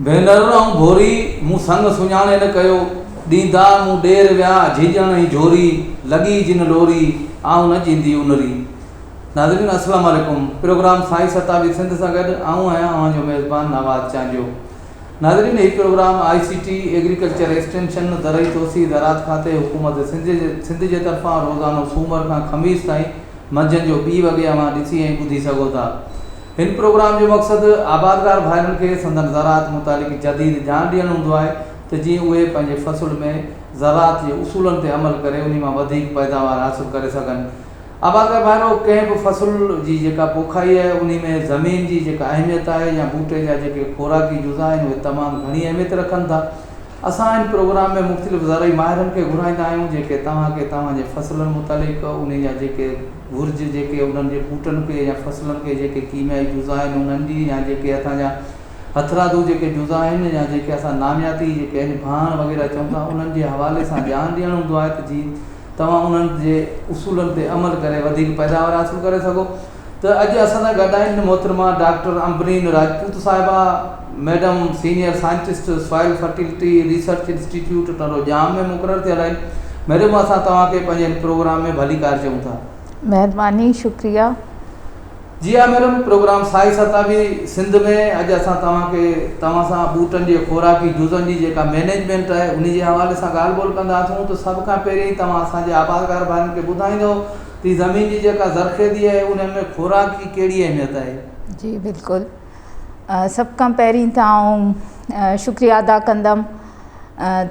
ڀينر ائون ڀوري، مون سڱ سڃاڻي نه ڪيو، ڏيندا مون ڏير ويا، جهيڄڻ ۽ جهوري، لڳي جن لوري، آئون نه جيندي انري. ناظرين السلام عليڪم پروگرام سائي ستابي سنڌ سان گڏ آئون آهيان اوهان جو ميزبان نواد چانڊيو ناظرين هي program I C T, agriculture extension, زرعي توسيع، زراعت کاتي، حڪومت سنڌ جي طرفان روزانو سومر کان خميس تائين منجهند جو ٻي وڳي اوهان ڏسي ۽ ٻڌي سگهو ٿا. هن پروگرام جو مقصد آبادگار ڀائرن کي سندن زراعت متعلق جديد ڄاڻ ڏيڻ هوندو آهي ته جيئن اهي پنهنجي فصل ۾ زراعت جي اصولن تي عمل ڪري انهي مان وڌيڪ پيداوار حاصل ڪري سگهن. آبادگار ڀائرو! ڪنهن به فصل جي جيڪا پوکائي آهي، انهي ۾ زمين جي جيڪا اهميت آهي يا ٻوٽي جا جيڪي خوراڪي جزا آهن، اهي تمام گهڻي اهميت رکن ٿا. اسان هن پروگرام ۾ مختلف زرعي ماهرن کي گهرائيندا آهيون، جيڪي توهان کي توهان جي فصلن متعلق انهي جا جيڪي گهرج جيڪي انهن جي ٻوٽن کي يا فصلن کي جيڪي ڪيميائي جزا آهن انهن جي يا جيڪي هٿان جا هٿرادو جيڪي جزا آهن يا جيڪي اسان نامياتي جيڪي آهن ڀاڻ وغيره چئون ٿا انهن جي حوالي سان ڄاڻ ڏيڻ هوندو آهي ته جي توهان انهن جي اصولن تي عمل ڪري وڌيڪ پيداوار حاصل ڪري سگهو ته اڄ اسان سان گڏ آهن محترمه ڊاڪٽر عنبرين راجپوت صاحبه madam senior scientist soil fertility research institute Tando Jam ۾ مقرر ٿيل آهن ميڊم اسان توهان کي پنهنجي هن پروگرام ۾ ڀليڪار چئون ٿا. مهرباني شڪريه. جي ها ميڊم پروگرام سائي ستابي سنڌ ۾ اڄ اسان توهان کي توهان سان ٻوٽن جي خوراڪي جزن جي جيڪا مينيجمينٽ آهي انهي جي حوالي سان ڳالهه ٻولهه ڪندا اسون ته سڀ کان پهرين توهان اسان جي آبادگار ڀائرن کي ٻڌائيندو تي زمين جي جيڪا زرخيزي آهي انهن ۾ خوراڪ جي ڪهڙي اهميت آهي. جي بلڪل. سڀ کان پهرين ته آئون شڪريا ادا ڪندم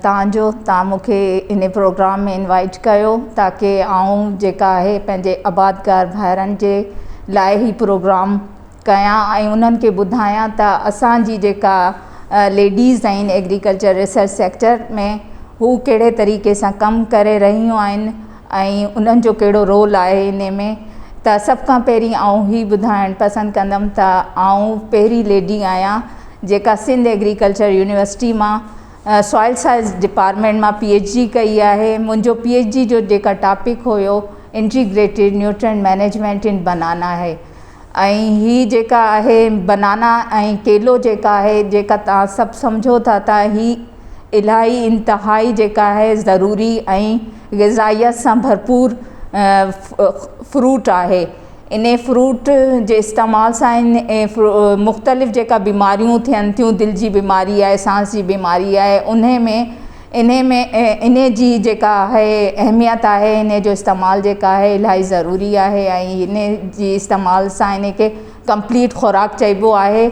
تانجو تان مونکي ان پروگرام ۾ انوائيٽ ڪيو تاڪي آئون جيڪا آهي پنهنجي آبادگار ڀائرن جي لاء هي پروگرام ڪيان ۽ انهن کي ٻڌايان ته اسانجي جيڪا ليڊيز آهن ايگريڪلچر ريسرچ سيڪٽر ۾ هو ڪهڙي طريقي سان ڪم ڪري رهيون آهن ۽ انهن جو ڪهڙو رول آهي انهي ۾ ته سڀ کان پهرين آئون هي ٻڌائڻ پسند ڪندم ته آئون پهرين ليڊي آهيان جيڪا سنڌ ايگريڪلچر يونيورسٽي مان سوائل سائنس ڊپارٽمينٽ مان پي ايڇ ڊي ڪئي آهي منهنجو پي ايڇ ڊي جو جيڪا ٽاپڪ هيو integrated nutrient management in banana آهي ۽ هي جيڪا آهي بنانا ۽ ڪيلو جيڪا آهي جيڪا توهان سڀ سمجهو ٿا ته هي الاهي انتهائي جيڪا آهي ضروري ۽ غذائيت سان ڀرپور فروٽ آهي انهي فروٽ جي استعمال سان مختلف جيڪا بيماريون ٿين ٿيون دل جي بيماري آهي سانس جي بيماري آهي انهي ۾ انهي ۾ انهي جي جيڪا آهي اهميت آهي انهي جو استعمال جيڪا آهي الاهي ضروري آهي ۽ انهي جي استعمال سان انهي کي ڪمپليٽ خوراڪ چئبو آهي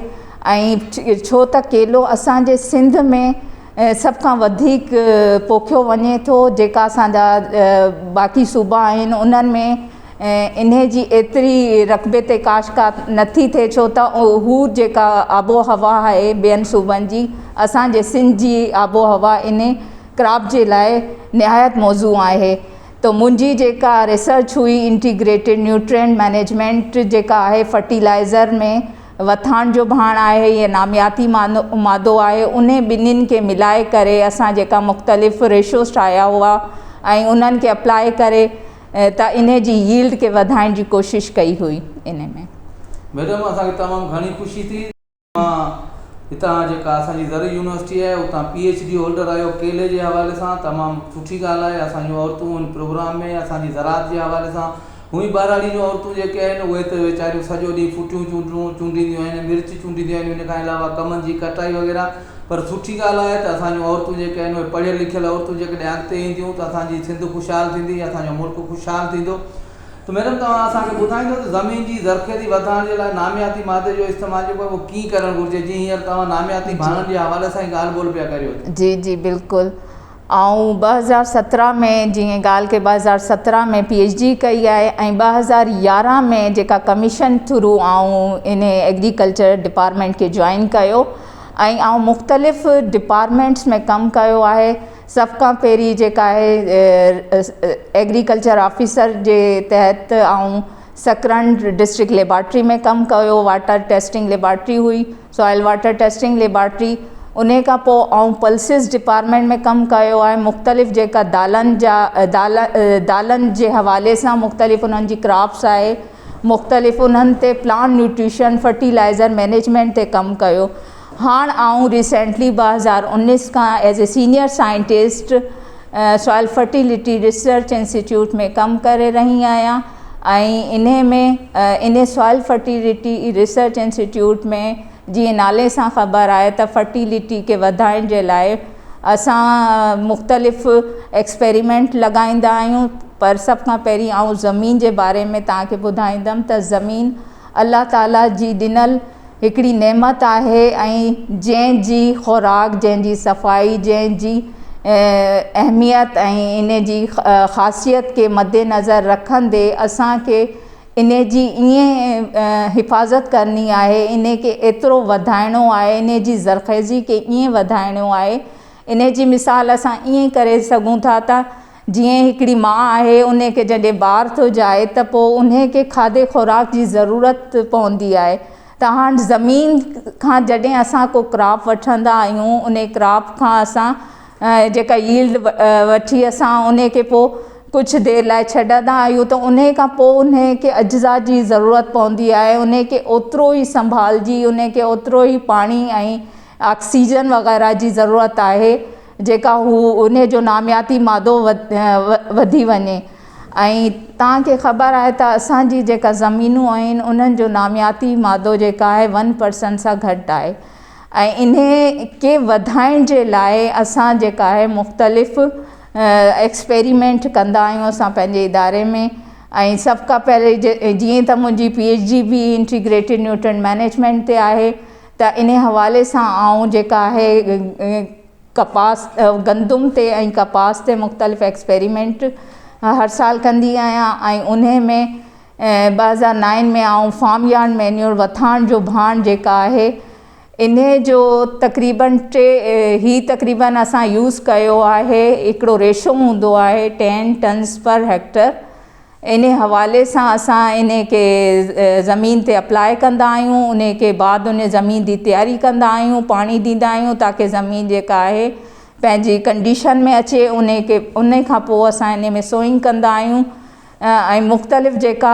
۽ ڇو ته ڪيلو اسان جي سنڌ ۾ سڀ کان وڌيڪ پوکيو وڃي ٿو جيڪا اسان جا باقي صوبا آهن انهن ۾ انهي جي ايتري رقبي تي ڪاش ڪا نٿي ٿئي ڇو ته هو جيڪا آبوهوا آهي ٻين صوبن جي اسان جي سنڌ جي آبوهوا انهي ڪراپ جي لاء نهايت موزون آهي ته منهنجي جيڪا ريسرچ هئي انٽيگريٽيڊ نيوٽرينٽ مينيجمينٽ جيڪا آهي فرٽيلائزر ۾ وٿاڻ جو ڀاڻ آهي يا نامياتي مادو آهي انهي ٻنهين کي ملائي ڪري اسان جيڪا مختلف ريشوز ٺاهيا هئا ۽ انهن کي اپلائي ڪري ته انهي جي ييلڊ کي وڌائڻ جي ڪوشش ڪئي هئي انهي ۾. ميڊم اسان کي تمام گهڻي خوشي ٿي توهان هتان جيڪا اسان جي زرعي يونيورسٽي آهي اتان پي ايڇ ڊي هولڊر آهيو ڪيلي جي حوالي سان تمام سٺي ڳالهه آهي اسان جون عورتون هن پروگرام ۾ اسان جي زراعت جي حوالي سان هونئن ٻهراڙي جون عورتون جيڪي آهن اهي ته ويچاريون سڄو ڏينهن ڦٽيون چونڊون چونڊينديون آهن مرچ چونڊينديون آهن ان کان علاوه ڪمند جي ڪٽائي وغيره پر سٺي ڳالهه آهي ته اسان جون عورتون جيڪي آهن اهي پڙهيل لکيل عورتون جيڪڏهن اڳتي اينديون ته اسان جي سنڌ خوشحال ٿيندي ۽ اسان جو ملڪ خوشحال ٿيندو ته ميڊم توهان اسان کي ٻڌائيندو ته زمين جي زرخيزي وڌائڻ جي لاء نامياتي مادي جو استعمال جيڪو آهي اهو ڪيئن ڪرڻ گهرجي جيئن هينئر توهان نامياتي ڀاڻن جي حوالي سان ئي ڳالهه ٻولهه پيا ڪريو ته. جي جي بلڪل. آئون ٻه هزار سترهن ۾ جيئن ڳالهه کي ٻه هزار سترهن ۾ پي ايڇ ڊي ڪئي آهي ۽ ٻه هزار يارهن ۾ جيڪا ڪميشن ٿرو آئون ان ايگريڪلچر ڊپارٽمينٽ کي جوائن ڪيو ۽ آئون مختلف ڊپارٽمينٽس ۾ ڪم ڪيو آهي سڀ کان پهرين جيڪا آهي ايگريڪلچر آفيسر جي تحت آئون سڪرنڊ ڊسٽرڪ ليبارٽري ۾ ڪم ڪيو واٽر ٽيسٽنگ ليبارٽري هئي سوائل واٽر ٽيسٽنگ ليبارٽري انهي کان پوء آئون پلسز ڊپارٽمينٽ ۾ ڪم ڪيو آهي مختلف جيڪا دالن جا دالن جي حوالي سان مختلف انهن جي ڪراپس آهي مختلف انهن تي پلانٽ نيوٽريشن فرٽيلائزر مينيجمينٽ تي ڪم ڪيو هاڻ آئون ريسينٽلي ٻه هزار انيس کان as a senior scientist soil fertility research institute ۾ ڪم ڪري رهي آهيان انهي ۾ انهي سوائل فرٽيلٽي ريسرچ انسٽيٽيوٽ ۾ جيئن نالي سان خبر آهي ته فرٽيلٽي کي وڌائڻ جي لاء اسان مختلف ايڪسپيريمينٽ لڳائيندا آهيون پر سڀ کان پهرين آئون زمين جي باري ۾ توهان کي ٻڌائيندم ته زمين الله تعاليٰ جي ڏنل هڪڙي نعمت آهي ۽ جنهن جي خوراڪ، جنهن جي صفائي، جنهن جي اهميت ۽ ان جي خاصيت کي مدنظر رکندي اسان کي ان جي ائين حفاظت ڪرڻي آهي، ان کي ايترو وڌائڻو آهي، ان جي زرخيزي کي ائين وڌائڻو آهي. ان جي مثال اسان ائين ڪري سگهون ٿا ته. جيئن هڪڙي ماء آهي انهي کي جڏهن بار ٿو جائي ته پوء انهي کي کاڌي خوراڪ جي ضرورت پوندي آهي ته هاڻ زمين کان جڏهن اسان ڪو ڪراپ وٺندا آهيون انهي ڪراپ کان اسان جيڪا ييلڊ وٺي اسان انهي کي پوء ڪجهه دير لاء ڇڏندا آهيون ته انهي کان پوء انهي کي اجزا جي ضرورت پوندي آهي انهي کي اوترو ئي سنڀالجي انهي کي اوترو ئي پاڻي ۽ آڪسيجن وغيره جي ضرورت آهي جيڪا هو انهي جو نامياتي مادو وڌي وڃي ۽ توهان کي خبر آهي ته اسان جي جيڪا زمينون آهن انهن جو نامياتي مادو جيڪا آهي ون پرسنٽ سان گهٽ آهي ۽ انهي کي وڌائڻ جي لاء اسان جيڪا آهي مختلف ايڪسپيريمينٽ ڪندا آهيون اسان پنهنجي اداري ۾ ۽ سڀ کان پهرين جيئن ته منهنجي پي ايڇ ڊي به انٽيگريٽيڊ نيوٽرينٽ مينيجمينٽ تي آهي ته انهي حوالي سان آئون جيڪا آهي ڪپاس گندم تي ۽ ڪپاس تي مختلف ايڪسپيريمينٽ هر سال ڪندي آهيان ۽ انهي ۾ ٻه هزار نائن ۾ آئون فارم يارڊ مينيور وٿاڻ جو ڀاڻ جيڪا آهي انهي جو تقريبن ٽي هي تقريبن اسان يوز ڪيو آهي هڪڙو ريشو هوندو آهي ٽين ٽنس پر هيڪٽر انهي حوالي سان اسان انهي کي زمين تي اپلاء ڪندا آهيون انهي کي بعد انهي زمين جي تياري ڪندا آهيون پاڻي ڏيندا آهيون تاڪي زمين جيڪا آهي پنهنجي ڪنڊيشن ۾ اچي انهي کي انهي کان پوء اسان انهي ۾ سوئنگ ڪندا آهيون ۽ مختلف جيڪا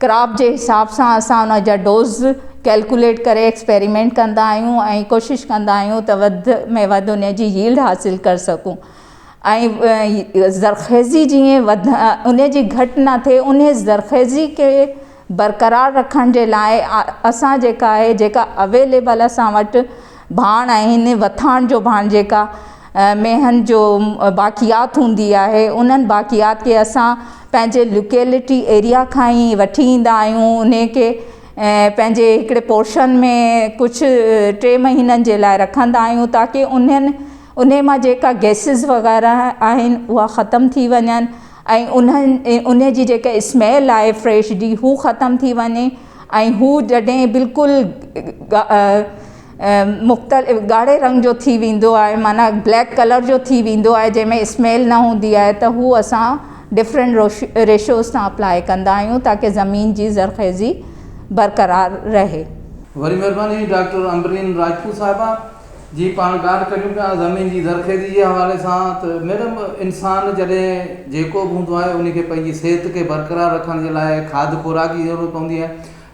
ڪراپ جي حساب سان اسان ان جا ڊوز ڪيلڪوليٽ ڪري ايڪسپيريمينٽ ڪندا آهيون ۽ ڪوشش ڪندا آهيون ته وڌ ۾ وڌ ان جي ييلڊ حاصل ڪري سگهون ۽ زرخيزي جيئن وڌ ان جي گهٽ نه ٿئي ان زرخيزي کي برقرار رکڻ جي لاء اسان جيڪا آهي جيڪا اويليبل اسان وٽ ڀاڻ آهن، وٿاڻ جو ڀاڻ جيڪا مينهن جو باقيات هوندي آهي انهن باقيات کي اسان پنهنجي لوڪيلٽي ايريا کان ئي وٺي ايندا آهيون انهي کي پنهنجي هڪڙي پورشن ۾ ڪجهه ٽي مهينن جي لاء رکندا آهيون تاڪي انهن انهي مان جيڪا گئسز وغيره آهن اها ختم ٿي وڃن ۽ انهن انهي جي جيڪا اسميل آهي فريش جي هو ختم ٿي وڃي ۽ هو جڏهن بلڪل ڳاڙهي رنگ جو ٿي ويندو آهي معنيٰ بليڪ ڪلر جو ٿي ويندو آهي جنهن ۾ اسميل نه هوندي آهي ته هو اسان ڊفرنٽ روش ريشوز تان اپلائي ڪندا آهيون تاڪي زمين جي زرخيزي برقرار رهي. وري مھرباني ڊاڪٽر عنبرين راڄپوت صاحبه جي پاڻ ڳالهه ڪريون پيا زمين جي زرخيزي جي حوالي سان ته ميڊم انسان جڏهن جيڪو به هوندو آهي ان کي پنهنجي صحت کي برقرار رکڻ جي لاء کاڌ خوراڪ جي ضرورت پوندي آهي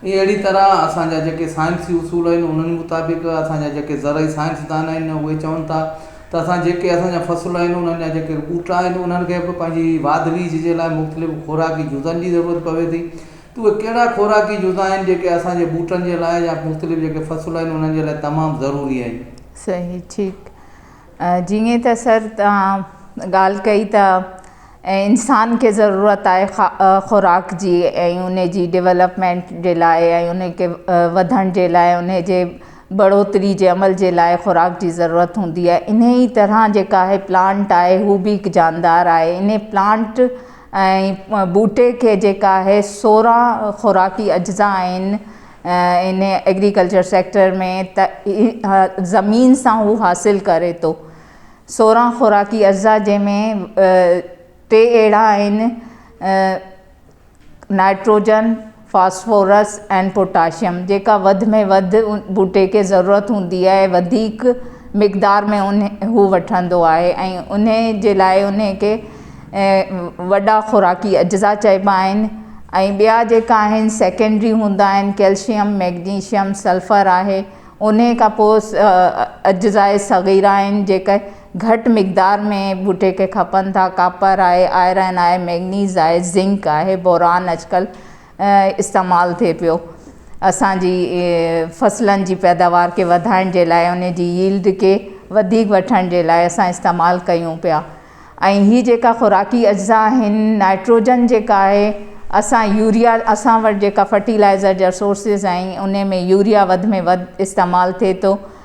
۽ اهڙي طرح اسانجا جيڪي سائنسي اصول آهن انهن مطابق اسانجا جيڪي زرعي سائنسدان آهن اهي چون ٿا ته اسان جيڪي اسانجا فصل آهن انهن جا جيڪي ٻوٽا آهن انهن کي به پنهنجي واڌ ويجهه جي لاء مختلف خوراڪي جزن جي ضرورت پوي ٿي اهي ڪهڙا خوراڪي جزا آهن جيڪي اسان جي ٻوٽن جي لاء يا مختلف جيڪي فصل آهن انهن جي لاء تمام ضروري آهن. صحيح ٺيڪ جيئن ته سر توهان ڳالهه ڪئي ته انسان کي ضرورت آهي خوراڪ جي ۽ ان جي ڊولپمينٽ جي لاء ۽ ان کي وڌڻ جي لاء ان جي بڙوتري جي عمل جي لاء خوراڪ جي ضرورت هوندي آهي انهي طرح جيڪا آهي پلانٽ آهي هو به هڪ جاندار آهي انهي پلانٽ ۽ ٻوٽي کي جيڪا اهي سورهن خوراڪي اجزا آهن ان ايگريڪلچر سيڪٽر ۾ ته زمين سان هو حاصل ڪري ٿو سورهن خوراڪي اجزا جنهن ۾ ٽي اهڙا آهن نائٽروجن فاسفورس ۽ پوٽاشيم جيڪا وڌ ۾ وڌ ٻوٽي کي ضرورت هوندي آهي وڌيڪ مقدار ۾ ان هو وٺندو آهي ۽ ان جي لاء ان کي وڏا خوراڪي اجزا چئبا آهن ۽ ٻيا جيڪا آهن سيڪنڊري هوندا آهن ڪيلشيم مئگنيشيم سلفر آهي ان کان پوء اجزاء صغيره آهن جيڪي گهٽ مقدار ۾ ٻوٽي کي کپن ٿا، ڪاپر آهي، آئرن آهي، مئگنيز آهي، زنڪ آهي، بوران اڄڪلهه استعمال ٿئي پيو اسان جي فصلن جي پيداوار کي وڌائڻ جي لاء ان جي ييلڊ کي وڌيڪ وٺڻ جي لاء اسان استعمال ڪيون پيا ۽ هي جيڪا خوراڪي اجزا آهن نائٽروجن جيڪا آهي اسان يوريا اسان وٽ جيڪا فرٽيلائزر جا سورسز آهن ان ۾ يوريا وڌ ۾ وڌ استعمال ٿئي ٿو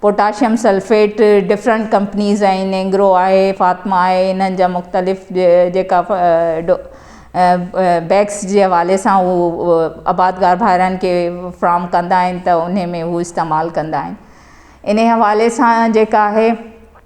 پوٽاشيم سلفيٽ ڊفرنٽ ڪمپنيز آهن اينگرو آهي فاطمه آهي انهن جا مختلف جيڪا بيگس جي حوالي سان هو آبادگار ڀائرن کي فراهم ڪندا آهن ته انهي ۾ هو استعمال ڪندا آهن انهي حوالي سان جيڪا آهي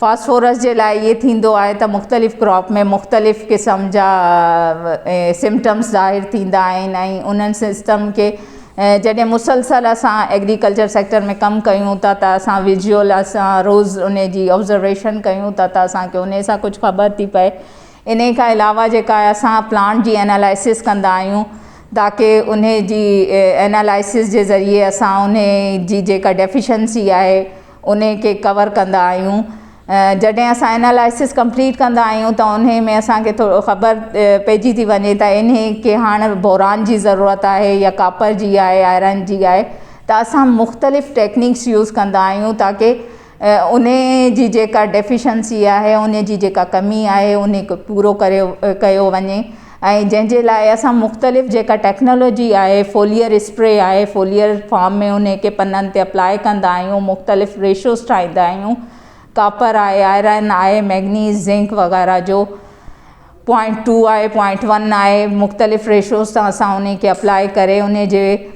فاسفورس جي لاء اهي ٿيندو آهي ته مختلف ڪراپ ۾ مختلف قسم جا سمٽمس ظاهر ٿيندا آهن ۽ انهن سسٽم کي جڏهن مسلسل اسان ايگريڪلچر سيڪٽر ۾ ڪم ڪيون ٿا ته اسان ويجوئل اسان روز ان جي آبزرويشن ڪيون ٿا ته اسانکي ان سان ڪجهه خبر ٿي پئي ان کان علاوه جيڪا اسان پلانٽ جي انالائسس ڪندا آهيون تاڪي ان جي انالائسس جي ذريعي اسان ان جي جيڪا ڊيفيشنسي آهي انهي کي ڪور ڪندا آهيون جڏهن اسان انالائسس ڪمپليٽ ڪندا آهيون ته انهي ۾ اسان کي ٿورو خبر پئجي ٿي وڃي ته انهي کي هاڻ بوران جي ضرورت آهي يا ڪاپر جي آهي آئرن جي آهي ته اسان مختلف ٽيڪنيڪس يوز ڪندا آهيون تاڪي انهي جي جيڪا ڊيفيشنسي آهي انهي جي جيڪا ڪمي آهي انهي کي پورو ڪريو ڪيو وڃي ۽ جنهن جي لاء اسان مختلف جيڪا ٽيڪنالاجي آهي فوليئر اسپري آهي فوليئر فام ۾ ان کي پنن تي اپلاء ڪندا آهيون مختلف ريشوز ٺاهيندا آهيون ڪاپر آهي آئرن آهي مئگنيز زنڪ وغيره جو پوائنٽ ٽو آهي پوائنٽ ون آهي مختلف ريشوز سان اسان ان کي اپلاء ڪري ان جي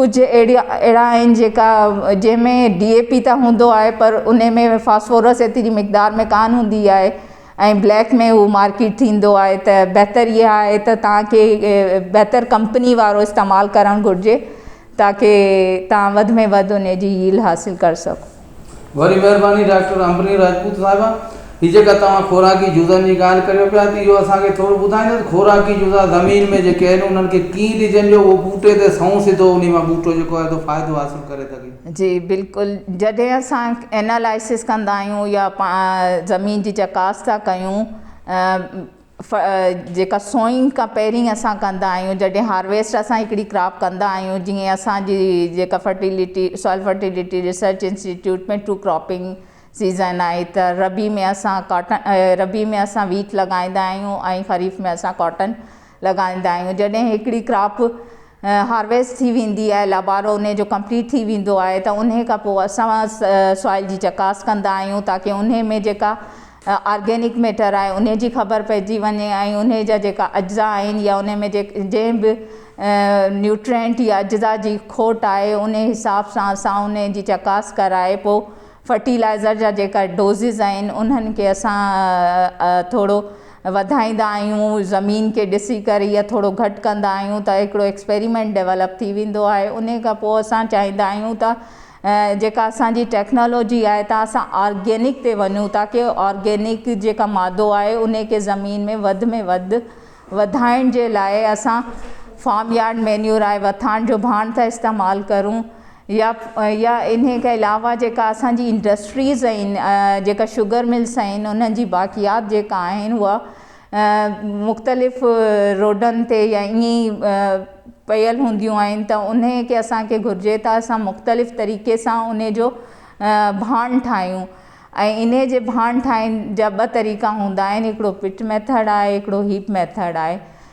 ڪجهه اهڙي اهڙا آهن جيڪا جنهن ۾ ڊي اي پي ته هوندو آهي پر ان ۾ فاسفورس ايتري مقدار ۾ ڪانه هوندي آهي ۽ بليڪ ۾ هو مارڪيٽ ٿيندو آهي ته بهتر اها آهي ته تان کي بهتر ڪمپني وارو استعمال ڪرڻ گهرجي تاڪي تان وڌ ۾ وڌ ان جي ييلهه حاصل ڪري سگهو وري مهرباني ڊاڪٽر امبريني راجپوت صاحبه هي جيڪا توهان خوراڪي جزن جي ڳالهه ڪريو پيا ته اهو اسان کي ٿورو ٻڌائيندا ته خوراڪي جزا زمين ۾ جيڪي آهن انهن کي ڪيئن ڏجن جو اهو ٻوٽي تي سنئون سڌو انهي مان ٻوٽو جيڪو آهي سو فائدو حاصل ڪري سگهي. جي بلڪل جڏهن اسان اينالائسس ڪندا آهيون يا زمين جي چڪاس ٿا ڪيون جيڪا سوئنگ کان پهرين اسان ڪندا آهيون جڏهن هارويسٽ اسان هڪڙي ڪراپ ڪندا آهيون جيئن اسانجي جيڪا fertility soil fertility research institute ۾ two cropping season آهي ته ربيع ۾ اسان ڪاٽن ربيع ۾ اسان ويٽ لڳائيندا آهيون ۽ خريف ۾ اسان ڪاٽن لڳائيندا آهيون جڏهن هڪڙي ڪراپ هارويسٽ ٿي ويندي آهي لابارو انهي جو ڪمپليٽ ٿي ويندو آهي ته انهي کان پوء اسان سوائل جي چڪاس ڪندا آهيون تاڪي انهي ۾ جيڪا آرگينڪ ميٽر آهي انهي جي خبر پئجي وڃي ۽ انهي جا جيڪا اجزا آهن يا انهي ۾ جنهن به نيوٽرينٽ يا اجزا جي کوٽ آهي انهي حساب سان اسان انهي جي چڪاس ڪرائي پوء فرٽيلائزر جا جيڪا ڊوزز آهن انهن کي اسان ٿورو وڌائيندا آهيون زمين کي ڏسي ڪري يا ٿورو گهٽ ڪندا آهيون ته هڪڙو ايڪسپيريمينٽ ڊيولپ ٿي ويندو آهي ان کان پوء اسان چاهيندا آهيون ته جيڪا اسانجي ٽيڪنالاجي آهي ته اسان آرگينڪ تي وڃون ٿا ڪي آرگينڪ جيڪا مادو آهي ان کي زمين ۾ وڌ ۾ وڌ وڌائڻ جي لاء اسان فارم يارڊ مينيور آهي وٿاڻ جو ڀاڻ ٿا استعمال ڪرون يا يا انهي کان علاوه جيڪا اسان جي انڊسٽريز ۽ جيڪا شگر ملس آهن انهن جي باقيات جيڪا آهن اها مختلف روڊن تي يا ائين ئي پيل هونديون آهن ته انهي کي اسان کي گهرجي ته اسان مختلف طريقي سان انهي جو ڀاڻ ٺاهيون ۽ انهي جي ڀاڻ ٺاهڻ جا ٻه طريقا هوندا آهن هڪڙو پٽ ميٿڙ آهي هڪڙو هيپ ميٿڙ آهي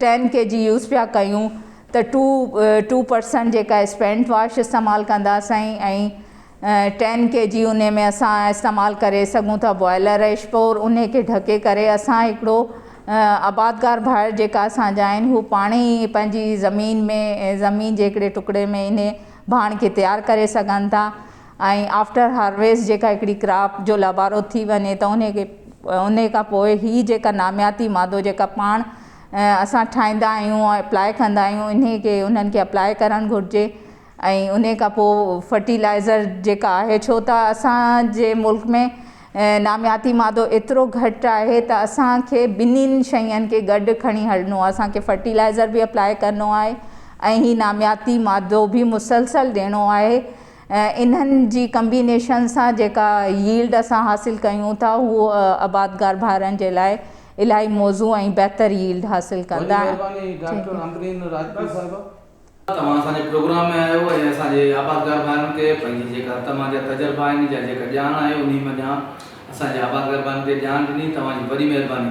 ٽين ڪي جي يوز پيا ڪيون ته ٽو ٽو پرسنٽ جيڪا اسپينٽ واش استعمال ڪندا سائين ۽ ٽين ڪي جي انهي ۾ اسان استعمال ڪري سگهون ٿا بوائلر ايش پور انهي کي ڍڪي ڪري اسان هڪڙو آبادگار ڀائر جيڪا اسان جا آهن هو پاڻ ئي پنهنجي زمين ۾ زمين جي هڪڙي ٽڪڙي ۾ انهي ڀاڻ کي تيار ڪري سگهن ٿا ۽ آفٽر هارويسٽ جيڪا هڪڙي ڪراپ جو لابارو ٿي وڃي ته انهي کي انهي کان پوء هي جيڪا نامياتي مادو جيڪا پاڻ اسان ٺاهيندا آهيون ۽ اپلائي ڪندا آهيون انهي کي انهن کي اپلائي ڪرڻ گهرجي ۽ انهي کان پوء فرٽيلائزر جيڪا آهي ڇو ته اسان جي ملڪ ۾ نامياتي مادو ايترو گهٽ آهي ته اسان کي ٻنهين شين کي گڏ کڻي هلڻو آهي اسان کي فرٽيلائزر به اپلائي ڪرڻو آهي ۽ هي نامياتي مادو به مسلسل ڏيڻو آهي انهن جي ڪمبينيشن سان جيڪا ييلڊ اسان حاصل ڪيون ٿا هو آبادگار ڀائرن جي لاء الاهي موزون ۽ بهتر ييلڊ حاصل ڪندا آهن. وڏي مهرباني ڊاڪٽر امبرين راجپوت صاحب. توهان اسان جي پروگرام ۾ آيو ۽ اسان جي آبادگار ڀائرن کي پنهنجي جيڪا توهان جا تجربا آهن جا جيڪا ڄاڻ آهي انهي منجهان اسان جي آبادگار ڀائرن کي ڄاڻ ڏني توهان جي وڏي مهرباني